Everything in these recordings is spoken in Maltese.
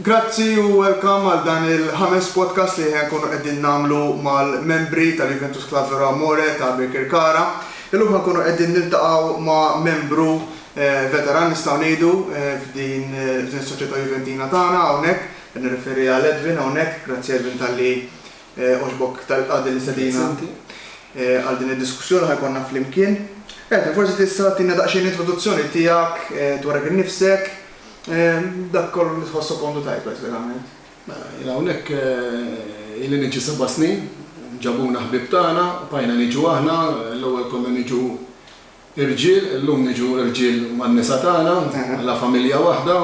Grazzi u welcome għal dan il-ħames podcast li ħa nkunu qegħdin nagħmlu mal-membri tal-Juventus Club Vero Amore ta' Birkirkara. Illum ħa nkunu qegħdin niltaqgħu ma' membru veteran nistgħu ngħidu f'din f'din is-soċjetà Juventina tagħna hawnhekk, qed nirreferi għal Edwin hawnhekk. Grazzi Edwin talli għoġbok tal qgħad l-istedina għal din id-diskussjoni li ħa jkollna flimkien. Edwin, forsi tista' tagħtina daqsxejn introduzzjoni tiegħek dwarek innifsek, Dak kollu li tħossok għondu tajt pratikament. Mela, jien hawnhekk ili niġi seba' snin. Ġabuna ħbieb tagħna, bqajna niġu aħna, l-ewwel konna niġu irġiel, illum niġu irġiel man-nisa tagħna, bħala familja waħda.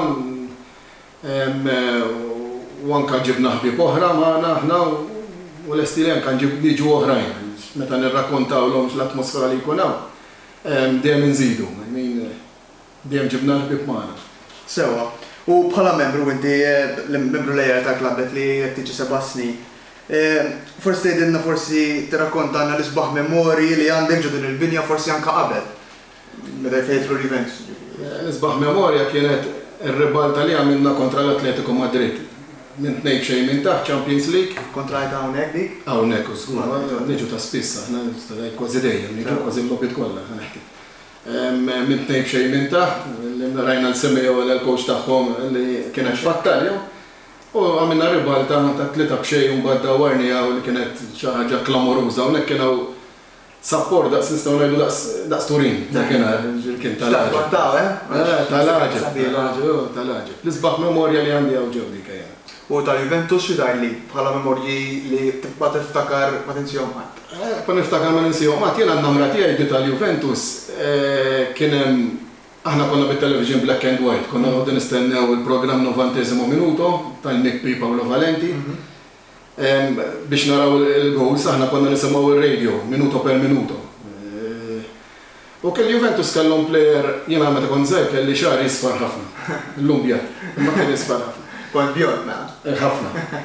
U anke ġibna ħbieb oħra magħna aħna u lesti li anke niġu oħrajn. Meta nirrakkontawlhom l-atmosfera li jkun hawn, dejjem inżidu. Dejjem ġibna l-ħbieb magħna. Sewwa. U bħala membru, inti membru leali tal-klabbet li qed tiġi seba' snin, forsi tgħidilna, forsi tirrakkontalna l-isbaħ memorji li għandek ġo din il-binja, forsi anke qabel, meta jfejħtlu l-Juventus jiġifieri. L-isbaħ memorja kienet ir-ribalta li għamilna kontra l-Atletico Madrid, minn tnejn b'xejn minn taħt, Champions League. Kontrollajtha hawnhekk dik? Hawnhekk, żgur. Niġu ta' spiss aħna, kważi dejjem, niġu kważi l-logħbiet kollha, ħa nehki. Minn tnejn b'xejn minn taħt, li rajna li Semmi Ewela l-coach tagħhom li kien qed jfattalhom, u għamilna ribalta ta' tlieta b'xejn u mbagħad dawwarniha u li kienet xi ħaġa klamoruża. Hawnhekk kien hawn sapport daqs nistgħu ngħidu daqs daqs Turin dakinhar, jiġifieri kien ta' l-għaġeb. X'taħ twattgħu, eh? Ta' l-għaġeb, ta' l-għaġeb, oh, ta' l-għaġeb. L-isbaħ memorja li għandi hawn ġenbi kejjena. u ta' Juventus xi tgħidli bħala memorji li tibqa' tiftakar ma tinsihom qatt? Nibqa' niftakar ma ninsihom qatt, jiena n-namra tiegħi di tal-Juventus kien hemm, aħna konna bit-television black and white, konna noqogħdu nistennew il-programm Novantesimo Minuto tal-MIPPI Paolo Valenti biex naraw il-goals, aħna konna nisimgħu r-radio minuto per minuto. Ok, il-Juventus kellhom plejer, jiena meta kont żgħir kelli xagħri isfar ħafna. Illum bjad, imma kien isfar ħafna. Kont bjond mela. Ħafna.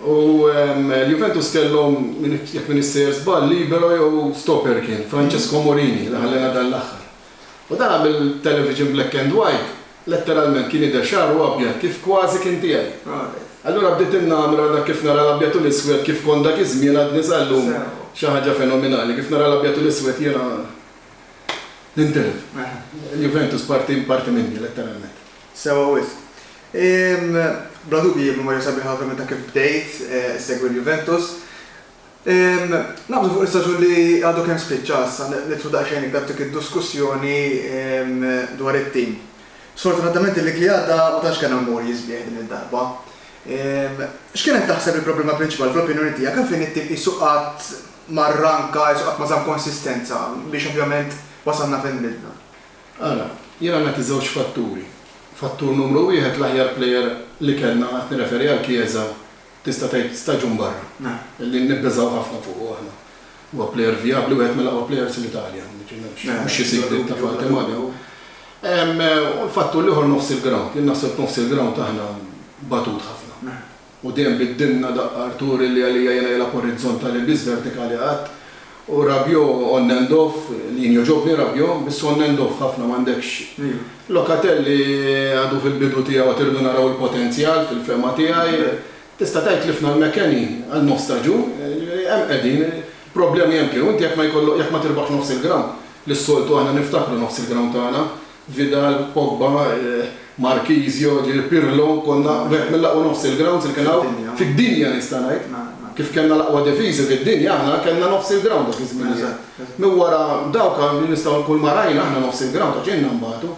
U l-Juventus kellhom, jekk minix sejjer żball, libero jew stopper kien, Francesco Morini, li ħallena dan l-aħħar. U dan għamel television black and white. Letteralment kien jidher xagħru abjad kif kważi kien tiegħi. Allura bdiet innamra dak kif nara l-abjad u l-iswed kif kont dak iż-żmien għadni sal-lum xi ħaġa fenominali. Kif nara l-abjad u l-iswed jiena nintilef. Il-Juventus parti parti minni letteralment. Sewwa wisq. Bla dubji memorja sabiħa ovvjament ta' kif bdejt issegwi l-Juventus. Naqbżu fuq l-istaġun li għadu kemm spiċċa issa nidħlu daqsxejn iktar f'dik id-duskussjoni dwar it-tim. Sfortunatament il-league li għadda ma tantx kena morji sbieħ din id-darba. X'kienet taħseb li l-problema prinċipali fl-opinjoni tiegħek? Għalfejn it-tim qisu qatt ma rranka, qisu qatt ma żamm konsistenza biex ovvjament wasalna fejn milna? Ara, jiena nagħti żewġ fatturi. Fattur numru wieħed l-aħjar plejer li kellna, qed nirreferi għal Chiesa, tista' tgħid staġun barra, li nibbeżgħu ħafna fuqu aħna. Huwa plejer vijabbli, wieħed mill-aqwa plejers fl-Italja, jiġifieri m'hemmx xi sigriet ta' Fati Magan. U l-fatt hu l-ieħor nofs il-grawnd. Jien naħseb f'nofs il-grawnd aħna batut ħafna. U dejjem biddilna daqqa Arturi li għalija jiena jilgħab orizzontali biss, vertikali qatt. U Rabiot on and off, jien jogħġobni Rabiot, biss on and off ħafna m'għandekx. Locatelli għadu fil-bidu tiegħu għad irridu naraw il-potenzjal fil-fehma tiegħi. Tista' tgħid tlifna l-McKennie għal nofs staġun, jiġifieri hemm qegħdin, il-problemi hemm kienu, inti jekk ma jkollok, jekk ma tirbaħx nofs il-ground, li s-soltu aħna niftakru nofs il-ground tagħna, Vidal, Pogba, Marchisio, ġieli Pirlo, konna wieħed mill-aqwa nofs il-grounds li kien hawn fid-dinja nista' ngħid. Kif kellna l-aqwa difiżi fid-dinja aħna kellna nofs il-ground dak iż-żminijiet. Minn wara dawk li nistgħu kulma rajna aħna nofs il-ground għax ilna nbatu.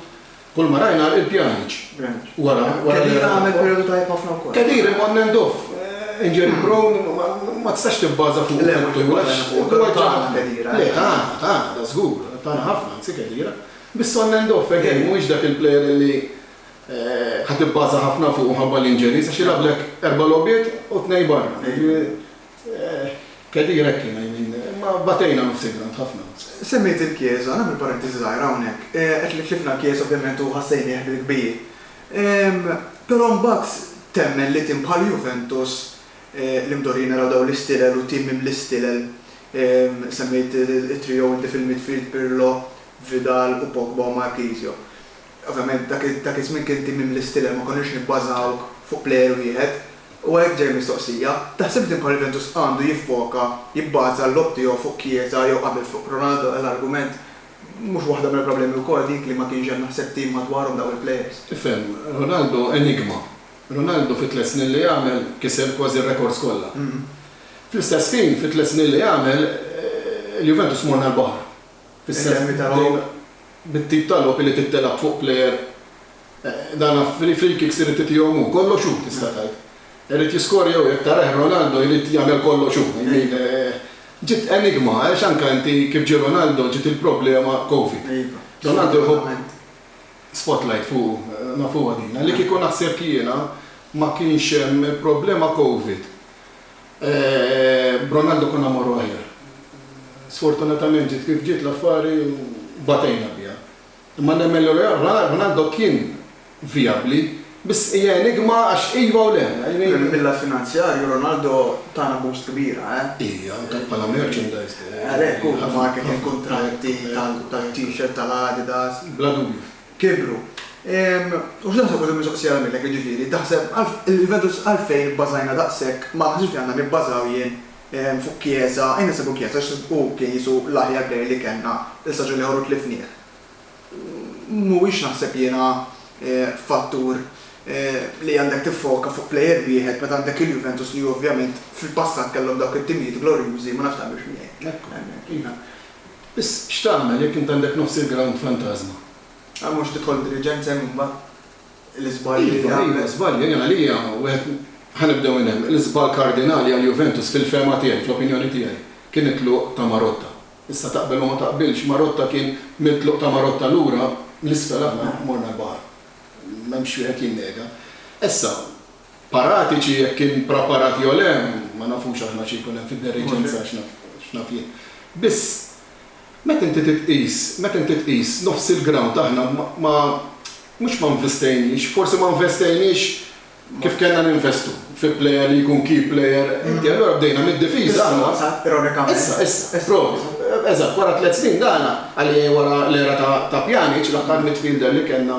Kulma rajna il-pjaniċ wara wara li. Khedira għamel perjodu tajjeb ħafna wkoll. Khedira imma on and off. Injury prone ma tistax tibbaża fuqu fuq tul għax. Le tagħna, tagħna, tagħna, żgur. Tagħna ħafna anzi Khedira. Biss on and off, again, mhuwiex dak il-player li ħa tibbaża ħafna fuqu mħabba l-injuries għax jilgħablek erba' logħbiet u tnejn barra. Khedira hekk kien, I mean, imma batejna nofs il-ground ħafna. Semmejt il-Chiesa, nagħmel parentesi żgħira hawnhekk. Qed li tlifna l-Chiesa ovvjament u ħassejnieh bil-kbir. Però mbagħad temmen li tim bħal Juventus li mdorrijin naraw dawn l-istilel u tim mimli stilel, semmejt it-trio inti fil-midfield, Pirlo, Vidal u Pogba u Marchisio. Ovvjament dak dak iż-żmien kien tim mimli stilel ma konniex nibbażaw fuq plejer wieħed. U għalhekk ġej mistoqsija, taħsib din bħal Juventus għandu jiffoka, jibbaża l-logħob tiegħu fuq Chiesa jew qabel fuq Ronaldo għal argument mhux waħda mill-problemi wkoll dik li ma kienx hemm naħseb tim madwarhom dawn il-plejers. Tifhem, Ronaldo enigma. Ronaldo fi tliet snin li għamel kiser kważi r-rekords kollha. Fl-istess ħin fi tliet snin li għamel il-Juventus morna l-baħar. Fis-semi ta' logħob. Bit-tip ta' logħob li trid tilgħab fuq plejer, dan free kicks irid itihom hu, kollox hu tista' tgħid. Irid jiskorja hu, jekk tarah Ronaldo jrid jagħmel kollox hu. I mean, ġiet enigma għax anke inti kif ġie Ronaldo ġiet il-problema Covid. Ronaldo jħobb spotlight fuqu, nafuha din. Li kieku naħseb jiena ma kienx hemm il-problema Covid. Eeh b'Ronaldo konna mmorru aħjar. Sfortunatament ġiet kif ġiet l-affari u batejna biha. Imma nemmen li Ronaldo kien vijabbli, biss hija enigma għax iva u le. Mill-lat finanzjarju Ronaldo tana boost kbira, eh. Iva, anke bħala merchandise. Għalhekk hu, marketing, kuntratti, tal-T-shirt, tal-Adidas. Bla dubju. kibru. U x'taħseb u din mistoqsija nagħmillek jiġifieri, taħseb il-verità għalfejn ibbażajna daqshekk ma naħsibx li għandna nibbażaw jien fuq Kjieża, jien naħseb fuq Kjieża għax hu kien Ġesù l-aħjar Bejgħ li kellna, il-saġar li ħorru tlifnieh. Mhuwiex naħseb jiena fattur li għandek tiffoka fuq plejer wieħed meta għandek il-Juventus li ovvjament fil-passat kellhom dawk it-timijiet glorjużi, ma nafx taqbilx miegħi. Hemmhekk. Iva. Biss, x'tagħmel jekk int għandek nofs il-grawnd fantażma? Ah, mhux tidħol b'diliġenza hemm imbagħad? L-iżbalji li għamlet. Iva, iva, żbalji. Jien għalija wieħed, ħa nibdew minn hemm, l-iżball kardinali għal Juventus fil-fehma tiegħi, fl-opinjoni tiegħi, kien it-tluq ta' Marotta. Issa taqbel u ma taqbilx, Marotta kien, mit-tluq ta' Marotta lura, l-isfel aħna morna l-baħar. M'hemmx wieħed jinnega. Issa, Paratiċi jekk kien praparat jew le ma nafux aħna xi jkun hemm fid-deriġenza x'naf jien. Biss, meta inti titqis, meta inti tqis nofs il-ground aħna ma mhux ma nvistejniex, forsi ma nvestejniex kif kellna ninvestu fi plejer li jkun key plejer, inti allura bdejna mid-difiża aħna. Issa, ironikament. Issa, issa, provi. Eżatt, wara tliet snin dana, għalli wara l-era ta' Pjanic, l-aħħar midfielder li kellna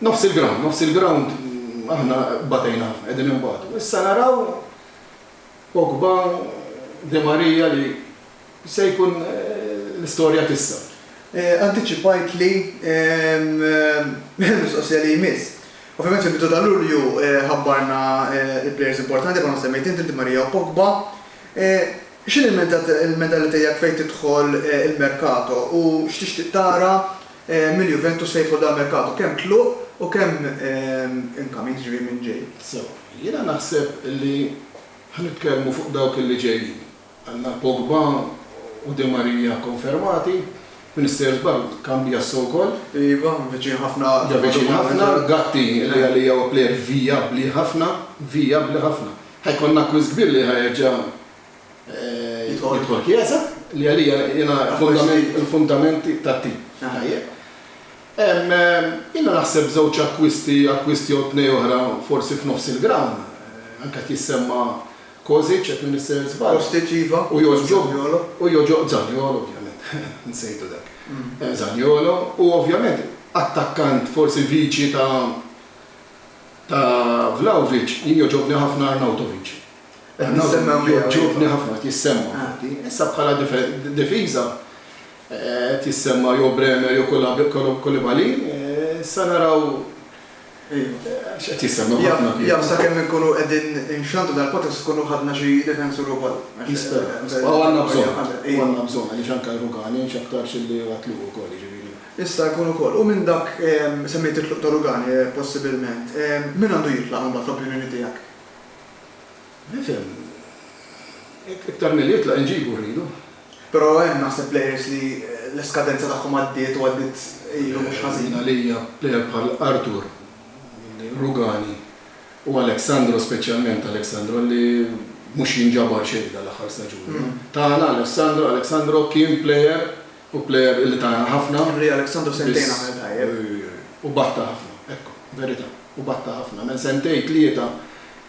Nofs il-ground, nofs il-ground aħna batejna ħafna, qegħdin inbatu. Issa naraw Pogba, Di Maria li se jkun l-istorja tissa. Antiċipajt li l-mistoqsija li jmiss. Ovvjament fil-bidu ta' Lulju ħabbarna l-plejers importanti bħalma semmejt inti, Di Maria u Pogba. X'inhi l-mentalità tiegħek fejn tidħol il-merkato u x'tixtieq tara mill-Juventus se jidħol dal-merkatu, kemm tluq u kemm incoming, jiġifieri minn ġej. Sew, jiena naħseb li ħa nitkellmu fuq dawk li ġejjin. Għandna Pogba u Di Maria konfermati, Mr. Żball, Cambiasso wkoll. Iva, viċin ħafna. Ġa viċin ħafna, Gatti li għalija huwa plejer vijabbli ħafna, vijabbli ħafna. Ħa jkollna acquist kbir li ħa jerġa' Jidħol kjesa li għalija jena il-fundamenti ta' tim. Tajjeb. Jena naħseb żewġ akkwisti, akkwisti jew tnej oħra forsi f'nofs il-ground. Anke qed jissemma Kozic, jekk m'iniex se żball. Kostiċ iva. U Zaniolo. U Zaniolo ovvjament. Nsejtu dak. Zaniolo u ovvjament attakkant forsi viċi ta' ta' Vlahovic jien jogħġobni ħafna Arnautovic. Qed nistenna nbigħ. Jogħġobni ħafna qed jissemma infatti. Issa bħala difiża qed jissemma jew Bremer jew Koulibaly. Issa naraw x'qed jissemma ħafna. Jaf sakemm inkunu qegħdin inxandru dal-podcast tkunu ħadna xi difensur ukoll. Nispera. U għandna bżonn. U għandna bżonn għaliex anke Rugani x'aktarx li huwa tluq ukoll jiġifieri. Jista' jkun ukoll. U minn dak semmejt it-tluq ta' Rugani possibilment. Min għandu jitlaq imbagħad fl-opinjoni tiegħek? Nifhem. Iktar milli jitla' inġibu rridu. Però hemm naħseb players li l-iskadenza tagħhom għaddiet u għaddiet ilu mhux ħażin. Jien għalija player bħal Arthur, Rugani u Alexandro speċjalment Alexandro li mhux jinġabar xejn dan l-aħħar staġun. Tagħna Alexandro Alexandro kien player Hu player illi ta ħafna. Henry Alexandru sentejn għamel tajjeb. Hu batta ħafna, ekku, verita', hu batta ħafna. Għamel sentejn, tlieta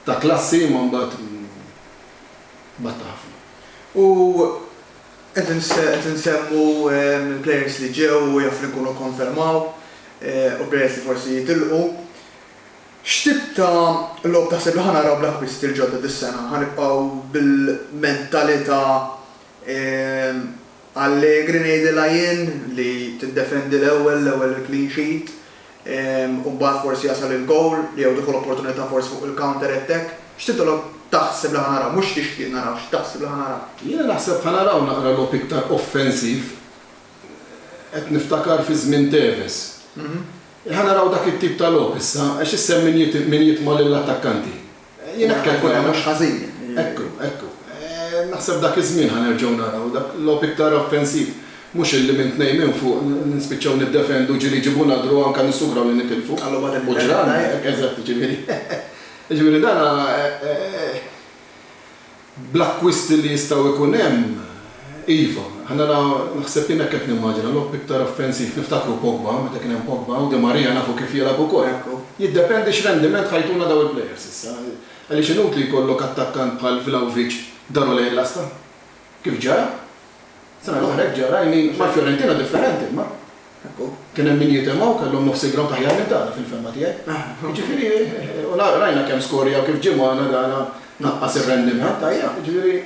ta' klassi imma mbagħad batta ħafna. U qed insemmu l-players li ġew u jaf li jkunu kkonfermaw u players li forsi jitilqu. X'tip ta' logħob taħseb li ħa naraw bl-akkwisti l-ġodda dis-sena? Ħa nibqgħu bil-mentalita' Allegri ngħidilha jien li tiddefendi l-ewwel, l-ewwel il-clean sheet u mbagħad forsi jasal il-gowl jew tieħu l-opportunità forsi fuq il-counter attack. X'titolob taħseb li ħa naraw? Mhux x'tixtieq naraw, x'taħseb li ħa naraw? Jiena naħseb ħa naraw naqra logħob iktar offensiv. Qed niftakar fi żmien Tevez. Ħa naraw dak it-tip ta' logħob issa għax issemm min jitma' lill-attakkanti. Jien naħseb ikun hemm mhux ħażin. Ekku, ekku. Naħseb dak iż-żmien ħa nerġgħu naraw dak logħob iktar offensiv. Mhux illi minn tnejn minn fuq nispiċċaw niddefendu ġieli jġibulna draw anke nissugraw li nitilfu. U ġralna hekk, eżatt, jiġifieri. Jiġifieri dan Bl-akkwisti li jistgħu jkun hemm, iva. Allura naħseb jien hekk qed nimmaġina, logħob iktar offensiv. Niftakru Pogba, meta kien hemm Pogba, u Di Maria nafu kif jilgħab ukoll. Jiddependi x'rendiment ħa jtuna dawn il-plejers issa. Għaliex inutli jkollok attakkant bħal Vlahovic daru lejn l-għasta. Kif ġara. Sena l-oħra hekk ġara, I mean, mal-Fiorentina differenti imma. Hekk hu. Kien hemm min jitimgħu, kellhom nofs il-grawnd aħjar minn tagħna fil-fehma tiegħi. Jiġifieri, u rajna kemm skorjaw, kif ġie magħna dana naqqas ir-rendiment, ajja, jiġifieri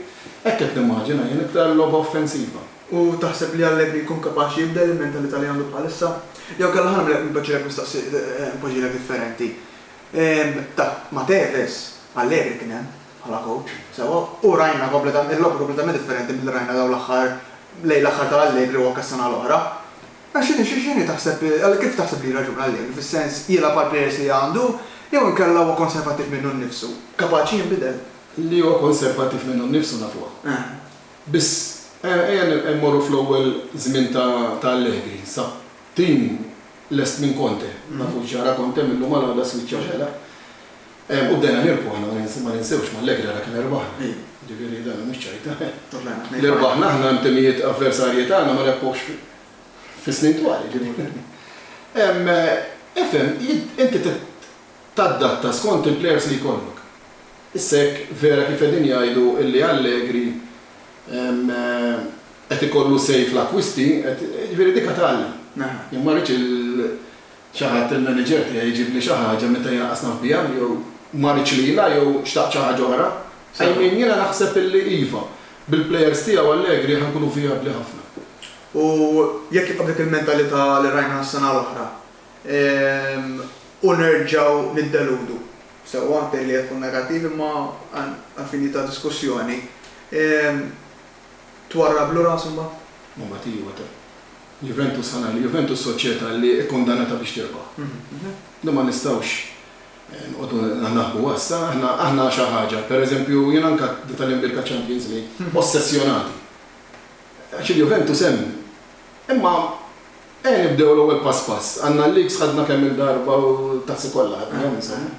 hekk qed nimmaġina jien, iktar logħba offensiva. U taħseb li Allegri jkun kapaċi jibdel il-mentalità li għandu bħalissa? Jew inkella ħa nagħmilek il-piaċir nistaqsih b'ħġiena differenti. Ta' ma' Tevez, Allegri kien hemm. bħala kowċ, sewwa, u rajna kompletament, il-logħba kompletament differenti milli rajna dawn l-aħħar, lejn l-aħħar ta' Allegri u anke s-sena l-oħra. Però x'inhi, x'inhi taħseb, kif taħseb li jirraġuna Allegri, fis-sens, jilgħab għall-plejers li għandu jew inkella huwa konservattiv minnu nnifsu, kapaċi jinbidel? Li huwa konservattiv minnu nnifsu nafuha. Biss, ejja mmorru fl-ewwel żmien ta' Allegri, sa tim lest minn Conte, nafu x'ġara Conte, mil-lum għal għada spiċċa xela. U bdejna nirbħu aħna, ma ninsewx mal-Leghera dak li rbaħna. Jiġifieri dan mhux ċajta. Li rbaħna aħna timijiet avversarji tagħna ma rebħux fis-snin twal, jiġifieri. Ifhem, inti tadatta skont il-plejers li jkollok. Issa jekk vera kif qegħdin jgħidu li Allegri qed ikollu say fl-akkwisti, jiġifieri dik għad tgħallem. Jien ma rridx Xi ħadd, il-manager tiegħi, jġibli xi ħaġa meta jiena qasnaw biha jew ma ridx lilha jew xtaqt xi ħaġa oħra? I mean, jiena naħseb illi iva. Bil-plejers tiegħu Allegri ħa nkunu vijabbli ħafna. U jekk jibqa' b'dik il-mentalità li rajna s-sena l-oħra u nerġgħu niddeludu, sewwa, tgħidli qed tkun negattiv imma għall-finijiet ta' diskussjoni, Twarrablu rasu mbagħad? Ma ma tiewa ta. Juventus ħa ngħidu, Juventus soċjetà li kkundanata biex tirbaħ. Din ma nistgħux nqogħdu naħbu għassa, aħna aħna xi ħaġa, pereżempju jien anke nitgħallem bih il-Champions League, ossessjonati. Għax il-Juventus hemm. Imma ejja nibdew l-ewwel pass pass. Għandna l-leagues ħadna kemm-il darba u t-tazzi kollha ħadnihom insomma.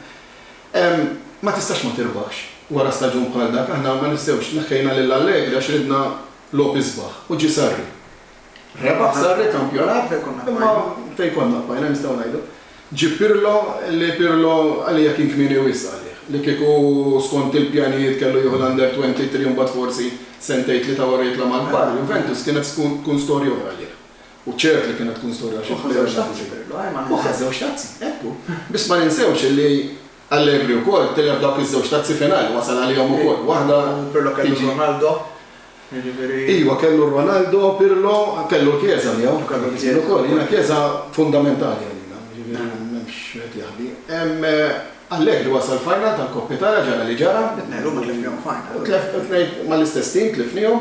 Ma tistax ma tirbaħx. Wara staġun bħal dak aħna ma ninsewx neħħejna lil Allegri għax ridna logħob isbaħ u ġie Sarri. Rebaħ Sarri kampjonat imma fejn konna bqajna nistgħu ngħidu. Ġieb Pirlo li Pirlo għalija kien kmieni wisq għalih li kieku skont il-pjanijiet kellu jieħu l-Under 23 u mbagħad forsi sentejn tlieta wara jitla' mal-kbar, Juventus kienet tkun storja oħra għalih. U ċert li kienet tkun storja xi f'Berna. U ħa żewġ tazzi, hekk hu. Biss ma ninsewx li Allegri wkoll tilef dawk iż-żewġ tazzi finali, wasal għalihom ukoll. Waħda Pirlo kellu Ronaldo, jiġifieri. Iva, kellu Ronaldo, Pirlo, kellu l-Chiesa miegħu. U kellu l-Chiesa wkoll. Jiena Chiesa fundamentali għalina, jiġifieri m'hemmx wieħed jaħbi. Allegri wasal final tal-Coppa Italia, ġara li ġara. It-tnejn l-huma tlifnihom final. Tlef, it-tnejn mal-istess tim tlifnihom.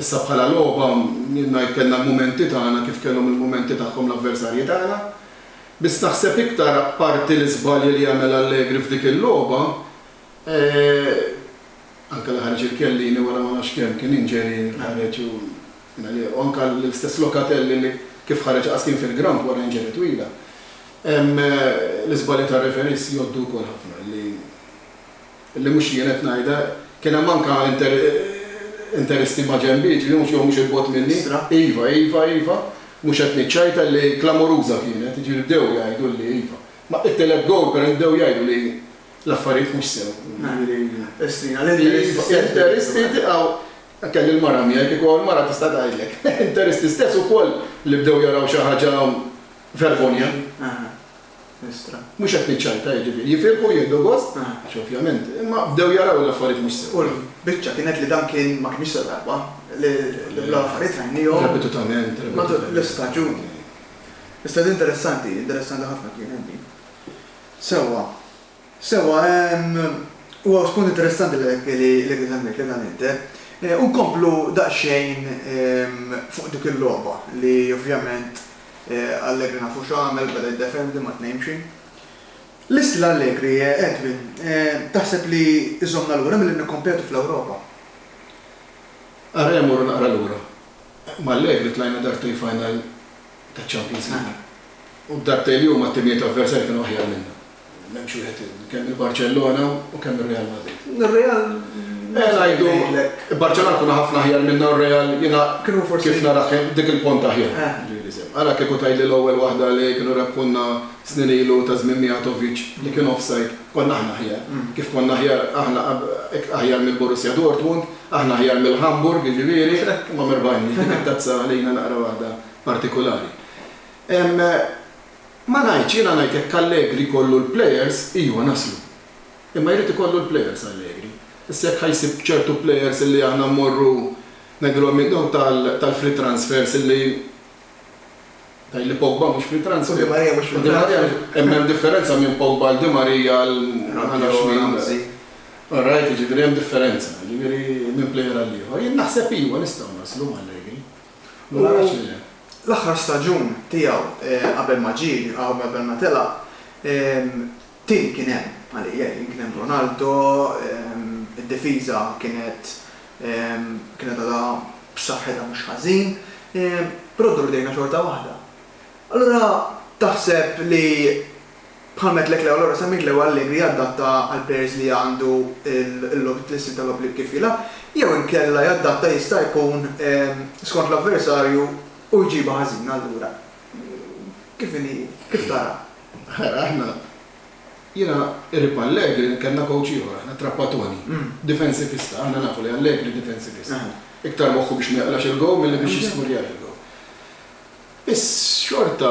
Issa bħala logħba, jien ngħid kellna l-mumenti tagħna kif kellhom il-mumenti tagħhom l-avversarji tagħna. Biss naħseb iktar apparti l-iżbalji li għamel Allegri f'dik il-logħba, anke li ħareġ lil Chiellini wara ma nafx kemm kien injury li ħareġ u u anke l-istess Locatelli li kif ħareġ laqas kien fil-ground wara injury twila. L-iżbalji tar-referees jgħoddu wkoll ħafna li li mhux jien qed ngħidha, kien hemm anke interisti maġenbi, jiġifieri mhux jew mhux 'il bogħod minni. Iva, iva, iva, mhux qed niċċajta li klamoruża kienet, jiġifieri bdew jgħidu li iva. Ma it-tielet gowl pereż bdew jgħidu li l-affarijiet mhux sew, jiġifieri interisti tiqgħu, kelli l-mara miegħi, kieku hawn mara tista' tgħidlek, interisti stess ukoll li bdew jaraw xi ħaġa vergogna. Estra. Mhux qed niċċajta, jiġifieri, jifirħu u jieħdu gost, għax ovvjament, imma bdew jaraw l-affarijiet mhux sew. U l-biċċa kienet li dan kien, ma kinitx l-darba li dawn l-affarijiet rajnihom. Repetutament, repetutament. Matul l-istaġun. Iżda interessanti, interessanti ħafna kienet din. Sewwa. Sewwa, huwa spunt interessanti dak li qed semmejtli dan inti. U nkomplu daqsxejn fuq dik il-logħba li ovvjament Allegri nafu x'għamel, beda jiddefendi ma' tnejn b'xi. L-istil Allegri, Edwin, taħseb li jżommna lura milli nikkompetu fl-Ewropa? Ara jien mmur naqra lura. Ma' Allegri tlajna darbtejn final taċ-Champions League. U d-darbtejn li hu mat-timijiet avversarji kienu aħjar minna. M'hemmx wieħed kemm il-Barċellona u kemm ir-Real Madrid. Ir-Real Mela ngħidu Barċellona kuna ħafna aħjar minna r-Real jiena kif nara dik il-pont aħjar. Ara kieku tgħidli l-ewwel waħda li kienu rebħulna snin ilu ta' żmien Mijatovic li kien offside, konna aħna aħjar. Kif konna aħjar aħna aħjar mill-Borussia Dortmund, aħna aħjar mill-Hamburg jiġifieri, imma mirbagħni, dik it-tazza għalina naqra waħda partikulari. Ma ngħidx, jiena ngħid jekk Allegri jkollu l-players, ijwa naslu. Imma jrid ikollu l-players Allegri. Issa jekk ħa jsib ċertu players illi aħna mmorru ngħidilhom min dawn tal-free transfers illi tgħid li Pogba mhux free transfer. U Di Maria mhux free transfer. Imma hemm differenza minn Pogba għal Di Maria għal ma nafx min. Ramsey. All right, jiġifieri hemm differenza, jiġifieri minn player għall-ieħor. Jien naħseb ijwa nistgħu naslu m'Allegri. U l-aħħar staġun tiegħu qabel ma ġie, qabel ma telaq, tim kien hemm għalija jien, kien hemm Ronaldo, id-difiża kienet kienet għadha b'saħħitha mhux ħażin, però ddur idejna xorta waħda. Allura taħseb li Bħal m'għedt lek l-ewwel ora semmejt l-ewwel Allegri jaddatta għal players li għandu l-istil ta' logħob li kif jilgħab jew inkella jaddatta jista' jkun skont l-avversarju u jġibha ħażina allura kif inhi kif taraha? Ara aħna jiena qrib ma' Allegri kellna coach ieħor aħna Trappatoni difensivista aħna nafu li Allegri difensivista iktar moħħu biex ma jaqlax il-goal milli biex jiskurjar il-goal. Biss xorta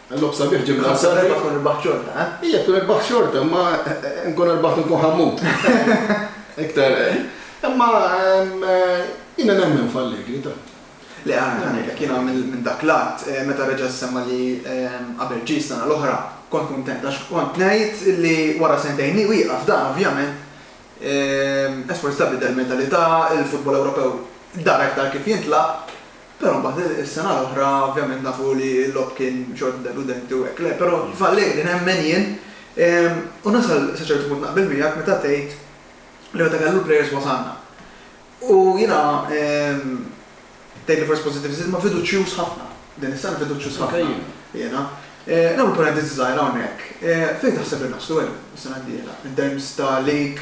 Logħob sabiħ ġie minn Azzarri. Ħamsa tkun irbaħt xorta, eh? Ija tkun irbaħt xorta, imma nkun irbaħt u nkun ħammut. Iktar. Imma jiena nemmen f'Allegri ta'. Le għandi ngħidlek jiena minn dak l-att meta reġa' ssemma' li qabel ġie s-sena l-oħra kont kuntent għax kont ngħid li wara sentejn li wieqaf dan ovvjament Esport Stabli ta' l-mentalità, il-futbol Ewropew dar aktar kif jintlagħab Però mbagħad is-sena l-oħra ovvjament nafu li l-logħob kien xorta deludenti u hekk le, però f'Allegri nemmen jien u nasal sa ċertu punt naqbel miegħek meta tgħid li meta kellu l-plejers wasalna. U jiena tgħidli forsi pożittivist imma fiduċjuż ħafna. Din is-sena fiduċjuż ħafna jiena. Nagħmel parentesi żgħira hawnhekk. Fejn taħseb li naslu Elio s-sena d-dieħla in terms ta' league,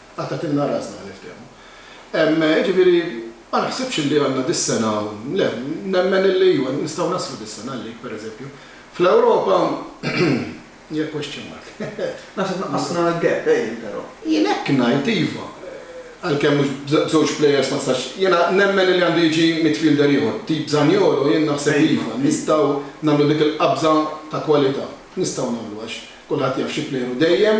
Qattgħatilna rasna, niftehmu. Jiġifieri, ma naħsibx li għandna dis-sena, le, nemmen illi iva, nistgħu naslu dis-sena għalik, pereżempju. Fl-Ewropa, hija question mark. Naħseb naqqasna l-gap, ejn, però. Jien hekk ngħid, iva. Għalkemm mhux b'żewġ plejers ma tistax, jiena nemmen illi għandu jiġi midfielder ieħor, tip Zaniolo, jien naħseb li iva, nistgħu nagħmlu dik il-qabża ta' kwalità. Nistgħu nagħmluha għax kulħadd jaf xi plejer hu dejjem.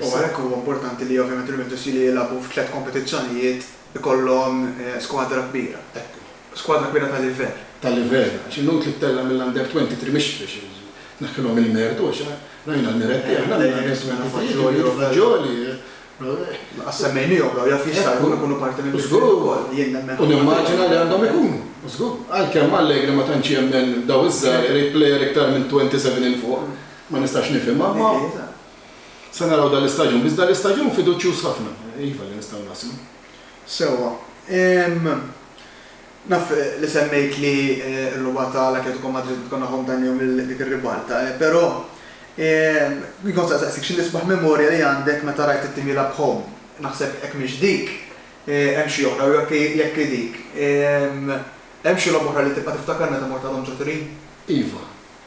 U għalhekk huwa importanti li ovvjament il-Juventus li jilagħbu f'tliet kompetizzjonijiet ikollhom skwadra kbira. Skwadra kbira ta' livell. Ta' livell. Għax inutli tellgħa mill-Under 23 mhix biex tneħħilhom il-mertu għax rajna l-miretti aħna mill-Under 23, Fagioli, Lanqas semmejniehom dawn jaf jista' jkun ikunu parti minn mill-ftit ukoll. Jien nemmen ħafna fihom. U nimmaġina li għandhom ikunu. Żgur. Għalkemm Allegri ma tantx jemmen dawn iż-żgħar irid plejer iktar minn 27 'il fuq. ma nistax nifhimha, imma se naraw dan l-istaġun. Biss dan l-istaġun fiduċjuż ħafna, iva, li nistgħu naslu. Sewwa. Naf li semmejt li r-rubgħa ta' l-Atletico Madrid tkun nagħhom dan jum lil dik ir-ribalta, però jien kont se nsaqsik xi l-isbaħ memorja li għandek meta rajt it-tim jilgħab b'ħomm. Naħseb jekk mhix dik, hemm xi oħra, jew jekk hi dik. Hemm xi logħba oħra li tibqa' tiftakar meta mort għadhom ġo Turin? Iva.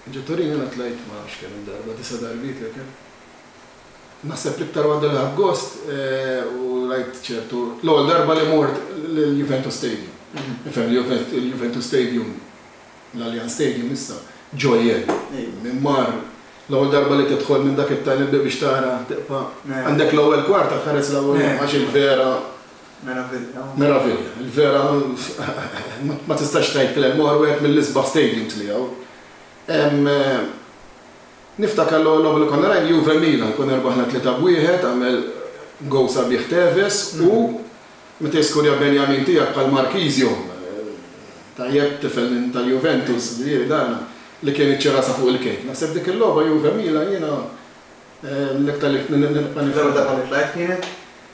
Ġo Torino jiena tlajt ma nafx kemm-il darba, disa' darbiet jew kemm. Naħseb l-iktar waħda li ħadt gost u rajt ċertu, l-ewwel darba li mort l-Juventus Stadium. Tifhem li l-Juventus Stadium, l-Allianz Stadium issa, ġojell. Min mar, l-ewwel darba li tidħol minn dak it-tunnel biex tara, tibqa' għandek l-ewwel kwarta tħares l-ewwel għax il-vera, Meravilja. Meravilja. Il-vera ma tistax tgħid kliem ieħor wieħed mill-isbaħ stadiums li hawn. Niftakar l-ewwel logħba li konna rajna Juve Milan, konna rbaħna tlieta b'wieħed, għamel gowl sabiħ Tevez u meta jiskurja Benjamin tiegħek bħal Marchisio, tajjeb tifel minn tal-Juventus li jiri dan, li kien iċċi rasha fuq il-kejk. Naħseb dik il-logħba Juve Milan jiena l-iktar li nibqa' niftakar. L-ewwel darba li tlajt kienet?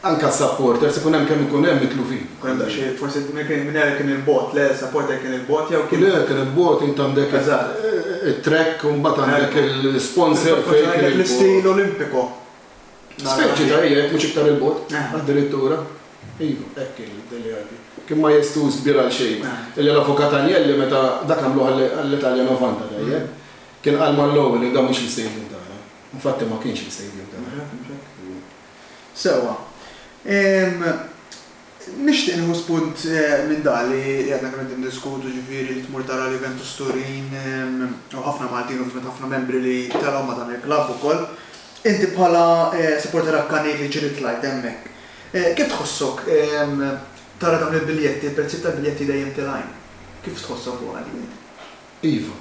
Anke għas-supporters ikun hemm kemm ikun hemm mitlufin. Ikun hemm daqsxejn, forsi Mineral kien 'il bogħod, le supporter kien 'il bogħod jew kien. Le, kien 'il bogħod, int għandek it-track u mbagħad għandek il-sponsor fejn kien 'il bogħod. L-istil Olimpiko. Speċi ta' jekk mhux iktar 'il bogħod, addirittura. Iva, hekk kien Dele Alli. Kien majestuż kbir għal xejn. Illi l-Avukat Agnelli meta dak għamluh għall-Italia Novanta tajjeb, kien qal mal-Lowell li dan mhux l-istadium tagħna. Infatti ma kienx l-istadium tagħna. Sewwa. Ehm, nixtieq nieħu spunt minn dak li għadna kemm qegħdin niddiskutu, jiġifieri li tmur tara l-Juventus Turin u ħafna Maltin, ovvjament ħafna membri li telgħu ma' dan il-klabb ukoll. Inti bħala supporter akkanit li ġieli tlajt hemmhekk, kif tħossok tara dawn il-biljetti, il-prezzijiet tal-biljetti dejjem tilgħin? Kif tħossok fuqha din inti? Iva.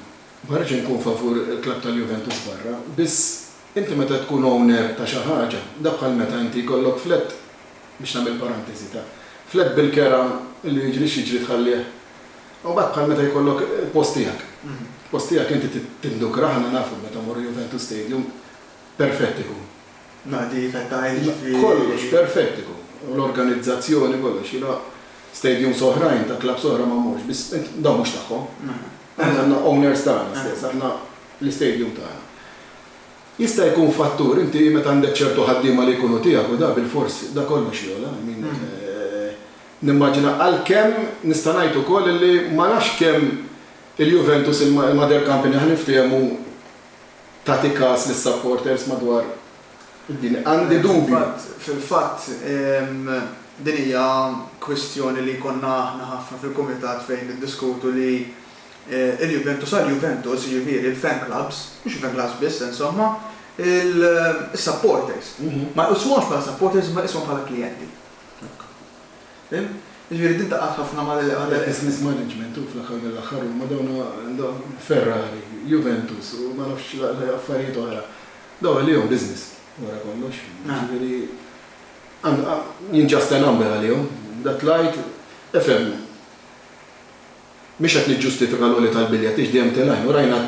Ma rridx inkun favur il-klabb tal-Juventus barra, biss Inti meta tkun owner ta' xi ħaġa, da bħal meta inti jkollok flett, biex nagħmel paranteżi, ta' flett bil-kera li jiġri x'jiġri tħallih, u mbagħad bħal meta jkollok il-post tiegħek. Il-post tiegħek inti tindukrah, aħna nafu meta mmorru Juventus Stadium, perfett ikun. Nadief, qed tgħid jiġifieri. Kollox perfett ikun. L-organizzazzjoni kollox, jiena stadiums oħrajn ta' clubs oħra ma mmorx, biss dawn mhux tagħhom. Aħna għandna owners tagħna stess, aħna l-istadium tagħna. Jista' jkun fattur, inti meta għandek ċertu ħaddiema li jkunu tiegħek u da bilfors, da kollox jogħla, I mean, nimmaġina, għalkemm nista' ngħid ukoll illi ma nafx kemm il-Juventus, il-mother company ħa niftehmu tagħti każ lis-supporters madwar id-dinja. Għandi dubju. Fil-fatt, din hija kwistjoni li jkollna aħna ħafna fil-kumitat fejn niddiskutu li il-Juventus għall-Juventus, jiġifieri il-fan clubs, mhux il-fan clubs biss insomma, is-supporters. Ma jqisuhomx bħala supporters imma jqisuhom bħala klijenti. Fhimt? Jiġifieri din taqgħad ħafna ma' l-. L-istess mismanagement hu fl-aħħar mill-aħħar huma dawn Ferrari, Juventus u ma nafx affarijiet oħra. Dawn għalihom business wara kollox. Jiġifieri I'm just a number għalihom. Dak l-għid, ifhem. Mhix qed niġġustifika l-għoli tal-biljett għiex dejjem telgħin u rajna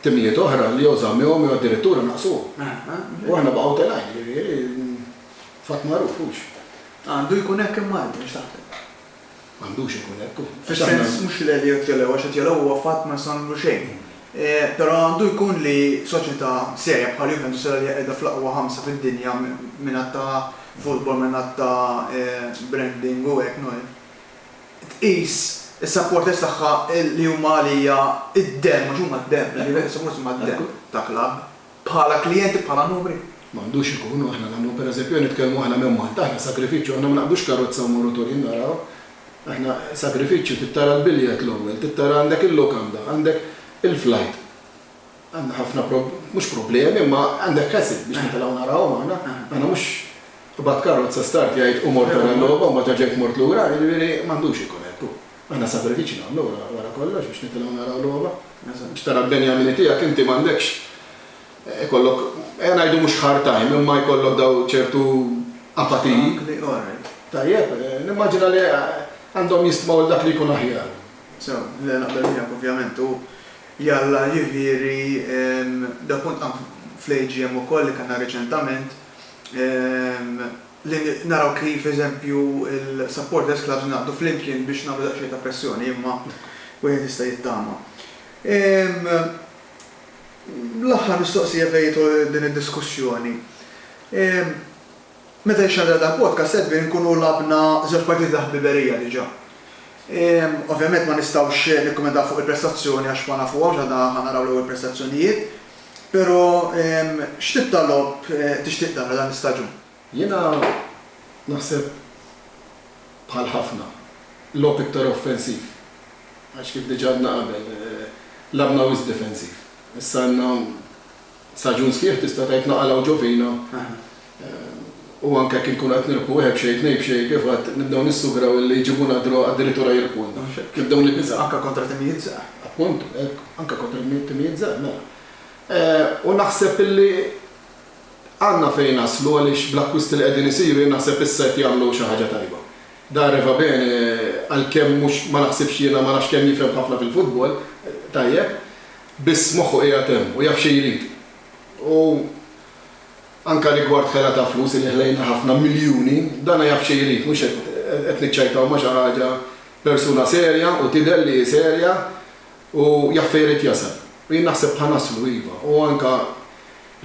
timijiet oħra li jew żammewhom jew addirittura naqqsuhom. U aħna baqgħu telgħin, jiġifieri fatt magħruf, hux? Għandu jkun hekk imma inti x'taħseb? M'għandux ikun hekk u. Fis-sens mhux li jekk telgħu għax qed jilgħu huwa fatt ma nistgħu nagħmlu xejn. Però għandu jkun li soċjetà serja bħal Juventus li hija qiegħda fl-aqwa ħamsa fid-dinja mingħadd ta' futbol, mingħadd ta' branding u hekk, tqis is-supporters tagħha li huma għalija d-demm, għax huma d-demm, li jridu s-supporters huma d-demm ta' klabb, bħala klijenti, bħala numri. Ma għandux ikun, u aħna nagħmlu, pereżempju, nitkellmu aħna minn Malta, aħna sagrifiċċju, aħna ma naqbdux karozza u mmorru Turin naraw. Aħna sagrifiċċju, trid tara l-biljett l-ewwel, trid tara għandek il-lukanda, għandek il-flajt. Għandna ħafna prob-, mhux problemi, imma għandek każin biex nitilgħu narawhom aħna. Aħna mhux qbad karrozza start jgħid u mort ara l-logħba u mbagħad reġgħet mort lura, jiġifieri m'għandux ikun hekk hu. Aħna sagrifiċċji nagħmlu wara, wara kollox biex nitilgħu naraw logħba. Biex tara l-benjamini tiegħek inti m'għandekx ikollok, ejja ngħidu mhux hard time, imma jkollok daw ċertu apatiji. Tajjeb, nimmaġina li għandhom jistmaw il-dak li jkun aħjar. Sew, le naqbel miegħek ovvjament u Jalla, jiġifieri, dak kont qam fl-AGM ukoll li kellna riċentament, li naraw kif, eżempju, il-supporters clubs ingħaqdu flimkien biex nagħmlu daqsxejn ta' pressjoni, imma wieħed jista' jittama. L-aħħar mistoqsija fejn jidħol din id-diskussjoni. Meta jixxandra dal-podcast qed bir inkunu lagħbna żewġ partiti ta' ħbiberija diġà. Ovvjament ma nistgħux nikkummentaw fuq il-prestazzjoni għax ma nafuhomx għadna ħa naraw l-ewwel prestazzjonijiet. Però x'tip ta' logħob tixtieq tara dan l-istaġun? Jiena naħseb bħal ħafna, logħob iktar offensiv għax kif diġà għedna qabel lagħbna wisq difensiv. Issa għandna Staġun sħiħ tista' tgħid naqalha u ġovina u anke jekk inkunu qed nirbħu wieħed b'xejn tnejn b'xejn kif għedt nibdew nissugraw illi jġibulna d-draw addirittura jirbħulna. Nibdew nibżgħu. Anke kontra timijiet żgħar. Appuntu, hekk, anke kontra timijiet żgħar, mela. U naħseb illi għandna fejn naslu għaliex bl-akkwisti li qegħdin isiru jien naħseb issa qed jagħmlu xi ħaġa tajba. Dare va bene għalkemm mhux ma naħsibx jiena ma nafx kemm jifhem ħafna fil-futbol, tajjeb, Biss moħħu qiegħed hemm u jaf xi jrid. U anke rigward ħela ta' flus illi ħlejna ħafna miljuni, dan jaf xi jrid, mhux qed qed niċċajtaw ma' xi ħaġa, persuna serja u tidher li hi serja u jaf fejn irid jasal. U jien naħseb ħa naslu iva. U anke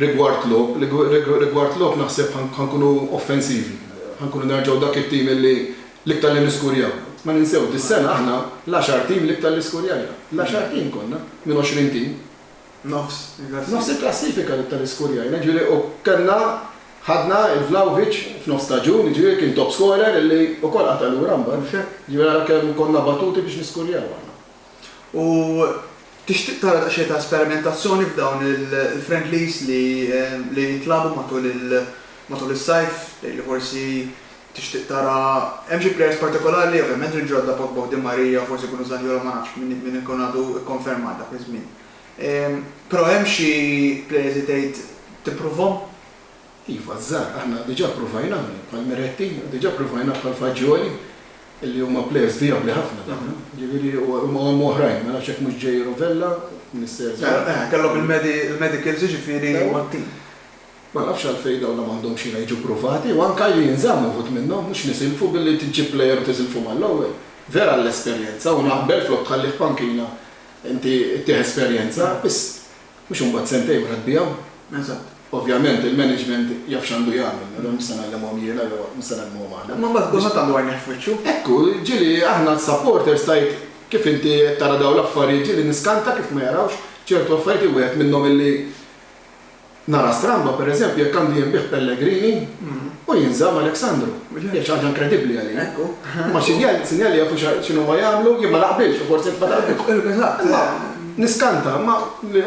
rigward logħob, rigward logħob naħseb ħa nkunu offensivi, ħa nkunu nerġgħu dak it-tim illi, L-iktar li niskurjaw. Ma ninsew, dis-sena aħna l-għaxar tim l-iktar li skurjajna. L-għaxar tim konna, minn għoxrin tim. Nofs il-klassifika. Nofs il-klassifika l-iktar li skurjajna, jiġifieri u kellna, ħadna 'l Vlahovic f'nofs staġun, jiġifieri kien top scorer illi wkoll qata' lura mbagħad. Mhux hekk? Jiġifieri ara kemm konna batuti biex niskurjaw aħna. U tixtieq tara daqsxejn ta' sperimentazzjoni f'dawn il-friendlies li jintlagħbu matul is-sajf, tgħid li forsi Tixtieq tara hemm xi plejers partikolari? Ovvjament il-ġodda Pogba u Di Maria, forsi jkunu Zaniolo ma nafx min min ikun għadu kkonfermat dak iż-żmien. Però hemm xi plejers li tgħid tippruvhom? Iva, ż-żgħar. Aħna diġà ppruvajnahom bħal Miretti, diġà ppruvajnah bħal Fagioli li huma plejers vijabbli ħafna dawn. Jiġifieri u hemm oħrajn, ma nafx jekk mhux ġej Rovella, Mister Zan. Kellhom il-medicals jiġifieri. Ewa. Ma nafx għalfejn dawn la m'għandhomx x'inha jiġu ppruvati u anke li jinżammu wħud minnhom, mhux nisilfu billi tġib plejer u tiżilfu mal-ewwel. Vera l-esperjenza u naqbel flok tħallih f'pankina inti ttih esperjenza, biss mhux imbagħad sentejn wara tbigħu. Eżatt. Ovvjament il-management jaf x'għandu jagħmel, nagħmlu mhux se ngħallimhom jiena jew mhux se ngħallimhom aħna. Imma mbagħad kulħadd għandu għajnejh f'wiċċu. Hekk hu, ġieli aħna s-supporters tgħid kif inti qed tara dawn l-affarijiet ġieli niskanta kif ma jarawx ċertu affarijiet li wieħed minnhom illi, Nara stramba, per eżempju, jekk għandu jinbiegħ Pellegrini u jinżamm Alexandru. Hija xi ħaġa inkredibbli għalija. Imma sinjal li jafu x'inhuma jagħmlu, jien ma naqbilx u forsi nitfa' darb'hekk. Imma niskanta, imma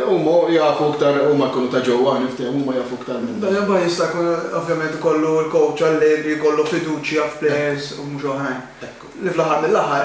huma jafu iktar, huma jkunu ta' ġewwa, niftehmu, huma jafu iktar minna. Dan imbagħad jista' jkun ovvjament ikollu l-coach għall-lejl li jkollu fiduċja f'players u mhux oħrajn. Li fl-aħħar mill-aħħar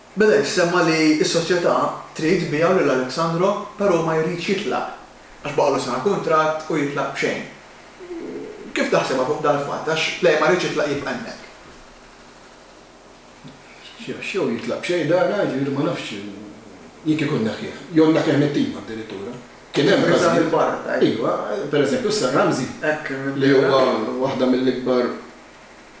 Mela jissemma li s-soċjetà trid tbiegħu lil Alexandro però hu ma jridx jitlaq għax baqgħulu sena kuntratt u jitlaq b'xejn. Kif taħsibha fuq dal-fatt għax Play ma jridx jitlaq jibqa' hemmhekk? Għax jew jitlaq b'xejn Dana, jiġifieri ma nafx jien kieku nneħħieh, jew nneħħieh mit-tim addirittura. Kien hemm każijiet, iva, pereżempju s-Sir Ramsey li huwa waħda mill-ikbar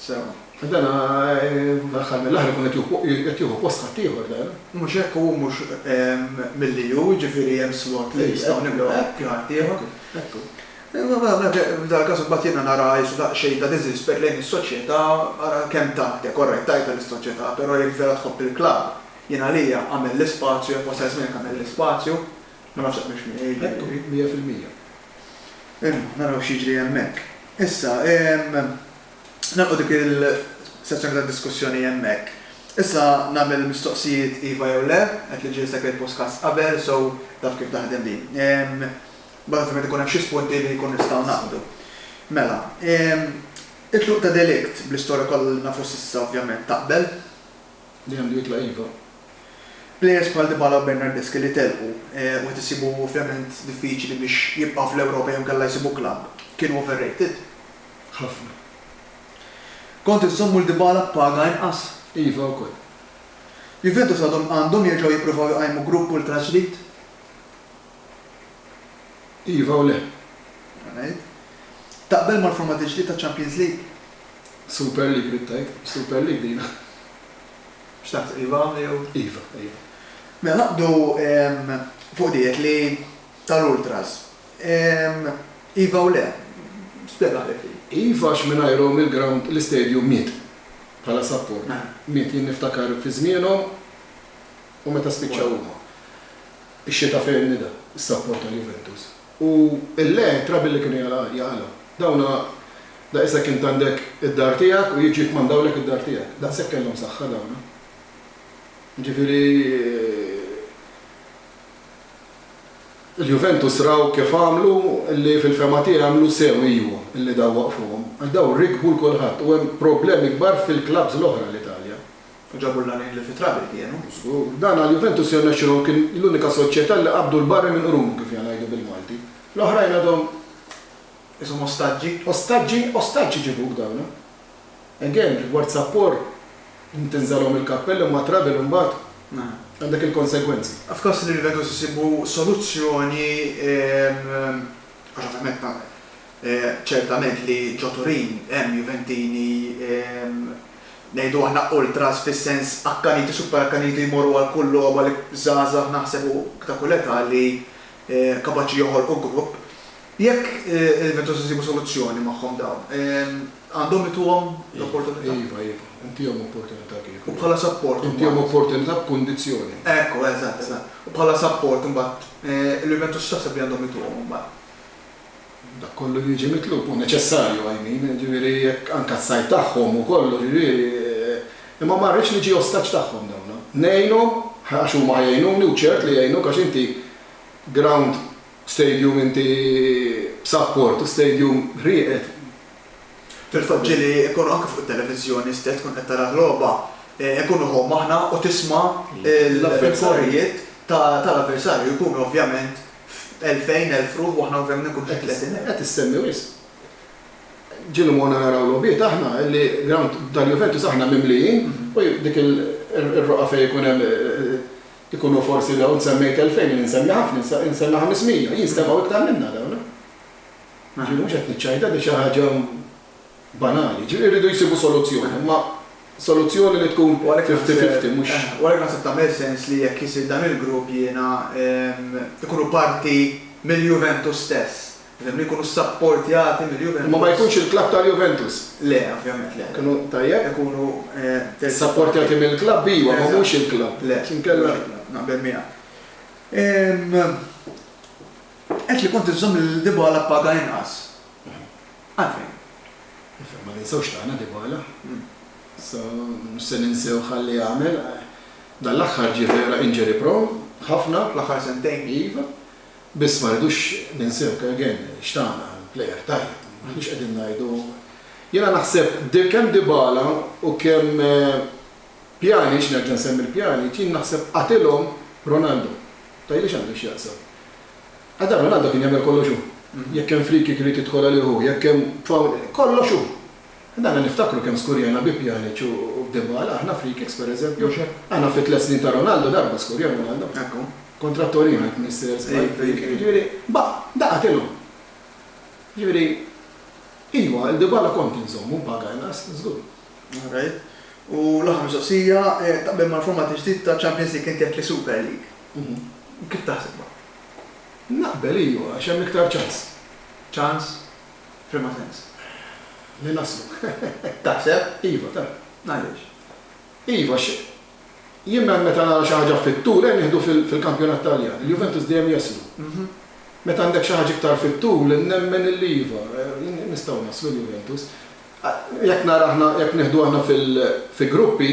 Sewa. Dan fl-aħħar mill-aħħar ikun qed jieħu post ħaddieħor dan. Mhux hekk, hu mhux milli hu, jiġifieri hemm slot li nistgħu nimlew bi ħaddieħor. Hekk hu. F'dan każ imbagħad jiena nara issa daqsxejn ta' diżrispett lejn is-soċjetà, ara kemm tagħtek, orrajt tajtha lis-soċjetà, però jekk vera tħobb il-klabb, jien għalija agħmel l-ispazju, jekk wasal iż-żmien jekk agħmel l-ispazju, Ma nafx hekk hux mija jiġri. Hekk hu, mija fil-mija. Imma, naraw x'jiġri hemmhekk. Issa, nagħlqu dik il-sezzjoni ta' diskussjoni hemmhekk. Issa nagħmel il-mistoqsijiet iva jew le, qed li ġie segwit postkast qabel, so taf kif taħdem di. Imbagħad ovvjament ikun hemm xi spunti li jkun nistgħu naqbdu. Mela, it-tluq ta' De Ligt, bl-istorja kollha li nafu s'issa ovvjament taqbel? li għandu jitla' iva. Plejers bħal Dybala u Bernardeschi li telqu u qed isibu ovvjament diffiċli biex jibqgħu fl-Ewropa jew inkella jsibu klabb, kienu overrated? Ħafna. Kont inżommu 'l Dybala b'paga inqas? Iva wkoll. Juventus għadhom għandhom jerġgħu jippruvaw iqajmu grupp ultra ġdid? Iva u le. Taqbel mal-format il-ġdid ta' Champions League? Super League ridt tgħid, Super League din. X'taħseb, iva jew? Iva, iva. Mela naqbdu fuq diet li tal-ultras. Iva u le. Spjega għalhekk hi. Iva għax mingħajrhom il-ground, l-istadium miet bħala support. Miet. Jien niftakar fi żmienhom. U meta spiċċaw huma? Ix-xita fejn nida s-sapport tal-Juventus u l-le trabi li kienu jaqalgħu. Dawna daqisek int għandek id-dar tiegħek u jiġu jikkmandawlek id-dar tiegħek. Daqshekk kellhom saħħa dawna. Jiġifieri il-Juventus raw kif għamlu li fil-fehma tiegħi għamlu sew iju li daw waqfuhom għax daw rikbu 'l kulħadd u hemm problemi kbar fil-klabbs l-oħra l-Italja. Ġabu l-għanin li fit-trabi kienu, żgur. Dan għal Juventus jirnexxilhom kien l-unika soċjetà li qabdu l-barri minn qrunu kif ja ngħidu bil-Malti. L-oħrajn għadhom. Qishom ostaġġi. Ostaġġi? Ostaġġ iġibuk dawn. Again, rigward Sapor, int tinżagħlhom il-kappell imma trabi l-imbagħad għandek il-konsegwenzi. F'każ li Juventus isibu soluzzjoni, għax ovvjament ma, ċertament li ġo Turin hemm Juventini Ngħidu aħna ultras fis-sens akkaniti super akkaniti jmorru għal kull logħba li żgħażagħ naħseb u ta' kull età li kapaċi joħolqu grupp. Jekk il-Juventus isibu soluzzjoni magħhom dawn, għandhom ituhom l-opportunità. Iva, iva. Intihom opportunità kieku. U bħala sapport imbagħad. Intihom opportunità b'kundizzjoni. Ekku, eżatt, eżatt. U bħala sapport imbagħad il-Juventus x'taħseb li għandhom ituhom imbagħad? Dak kollu li jiġi mitlub hu neċessarju għajnejn, jiġifieri jekk anke s-sajd tagħhom u kollox, jiġifieri, imma ma rridx niġi ostaġġ tagħhom dawn. Ngħinhom, għax huma ħa jgħinuni u ċert li jgħinuk għax inti ground, stadium inti b'sapport u stadium rieqed. Fil-fatt ġieli jkunu anke fuq it-televiżjoni stess tkun qed tara l-logħba, nkunu hawn aħna u tisma' l-affarijiet tal-avversarju jkunu ovvjament F'elfejn, elf ruħ u aħna hawn fejn inkunu xi tletin elf. Qed issemmi wisq. Ġieli morna naraw logħbiet aħna li ground tal-Juventus aħna mimlijin u dik ir-roqgħa fejn ikun hemm ikunu forsi dawn int semmejt elfejn jien insemmi ħafna int semmi ħames mija jinstemgħu iktar minna dawn. Ġieli mhux qed niċċajta di xi ħaġa banali. Jiġifieri rridu jsibu soluzzjoni, imma soluzzjoni li tkun fifty fifty mhux. U għalhekk naħseb tagħmel sens li jekk isir dan il-grupp jiena ikunu parti mill-Juventus stess. Fehimni? Ikunu ssapportjati mill-Juventus. Imma ma jkunx il-klabb tal-Juventus. Le, ovvjament le. Ikunu, tajjeb. Ikunu terzi. Ssapportjati mill-klabb iva, imma mhux il-klabb. Le. Inkella. Naqbel miegħek. Għedt li kont iżżomm lil Dybala b'paga inqas. Għalfejn? Ifhem, ma ninsewx tagħna Dybala. Issa mhux se ninsew x'ħalli jagħmel. Dan l-aħħar ġie vera injury prone ħafna. Fl-aħħar sentejn. Iva. Biss ma rridux ninsew, again, x'tana. Plejer tajjeb. M'aħniex qegħdin ngħidu. Jiena naħseb kemm Dybala u kemm Pjanic, nerġa' nsemmi l-Pjanic, jien naħseb qatilhom Ronaldo. Tgħidli x'għandu x'jaqsam. Adam minn għandu kien jagħmel kollox hu. Jekk hemm free kick irid jidħol għalih hu, jekk hemm foul, kollox hu. Dana niftakru kemm skurjajna bi Pjaniċ u b'Dybala aħna free kicks pereżempju. Aħna fit-tliet snin ta' Ronaldo darba skurja Ronaldo. Kontra Torino jekk m'nissieher żball, free kick. Jiġifieri baq', daqa' tilgħu. Jiġifieri iva, il-Dybala kont inżommu b'paga inqas, żgur. All right. U l-aħħar mistoqsija, taqbel mal-format il-ġdid ta' Champions League, inti għedt li Super League. Kif taħsibha? Naqbel, iju, għax hemm iktar ċans. Ċans? F'liema sens? Li naslu. Taħseb? Iva, ta'. Għaliex? Iva, għax jien me, meta nara xi ħaġa fit-tul, ejja nieħdu fil, fil-kampjonat Taljan, il-Juventus dejjem jaslu. Meta għandek xi ħaġa iktar fit-tul, nemmen illi iva, nistgħu naslu l-Juventus. Jekk nara aħna, jekk nieħdu aħna fil, fi gruppi,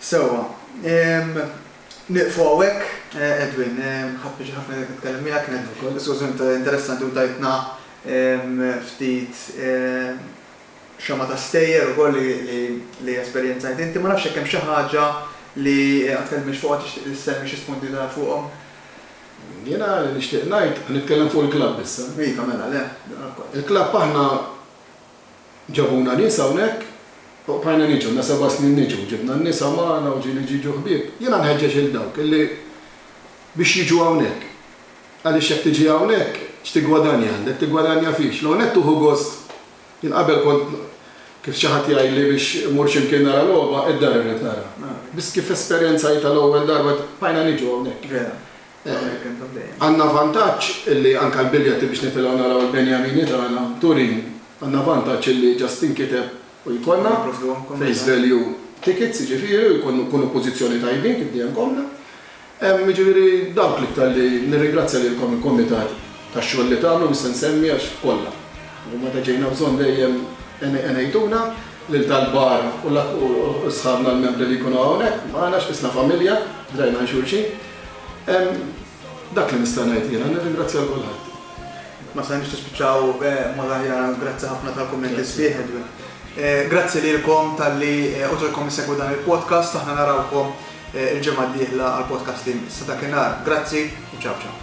Sewwa. Nieqfu hawnhekk. Edwin, ħadt pjaċir ħafna li nitkellem miegħek, kienet diskussjoni interessanti u tajtna ftit xama ta' stejjer ukoll li esperjenzajt inti. Ma nafx jekk hemm xi ħaġa li ma tkellimniex fuqha tixtieq li ssemmi xi spunti li tara fuqhom? Jiena li nixtieq ngħid, nitkellem fuq il-klabb issa. Iva, mela, le, daqqa wkoll. Il-klabb aħna Ġabuna nies hawnhekk u bqajna niġu, ilna seba' snin niġu, ġibna n-nisa magħna u ġieli jiġu ħbieb. Jiena nħeġġeġ lil dawk illi biex jiġu hawnhekk. Għaliex jekk tiġi hawnhekk, x'tiggwadanja għandek? Tiggwadanja fiex? L-ewwel nett tieħu gost, jien qabel kont kif xi ħadd jgħidli biex immur xi mkien nara logħba, id-dar irrid nara. Biss kif esperjenzajtha l-ewwel darba, bqajna niġu hawnhekk. Għandna vantaġġ illi anke l-biljetti biex nitilgħu naraw il-Benjamini tagħna Turin, għandna vantaġġ illi ġast tinkiteb u jkollna face value tickets jiġifieri u jkunu nkunu f'pożizzjoni tajbin kif dejjem konna. Jiġifieri dawk l-iktar li nirringrazzja lilkom il-Kumitat tax-xogħol li tagħmlu mhux se nsemmi għax kollha u meta ġejna bżonn dejjem għenejtuna lil tal-bar u sħabna l-membri li jkunu hawnhekk magħna x'qisna familja, drajna għal xulxin. Dak li nista' ngħid jiena, nirringrazzja lil kulħadd. Ma stajniex nispiċċaw b'mod aħjar, grazzi ħafna tal-kummenti sbieħ. Grazzi lilkom talli uġobkom issegwu dan il-podcast, aħna narawkom il-ġimgħa d-dieħla għall-podcast li jmiss. Sa dakinhar, grazzi u ciao ciao.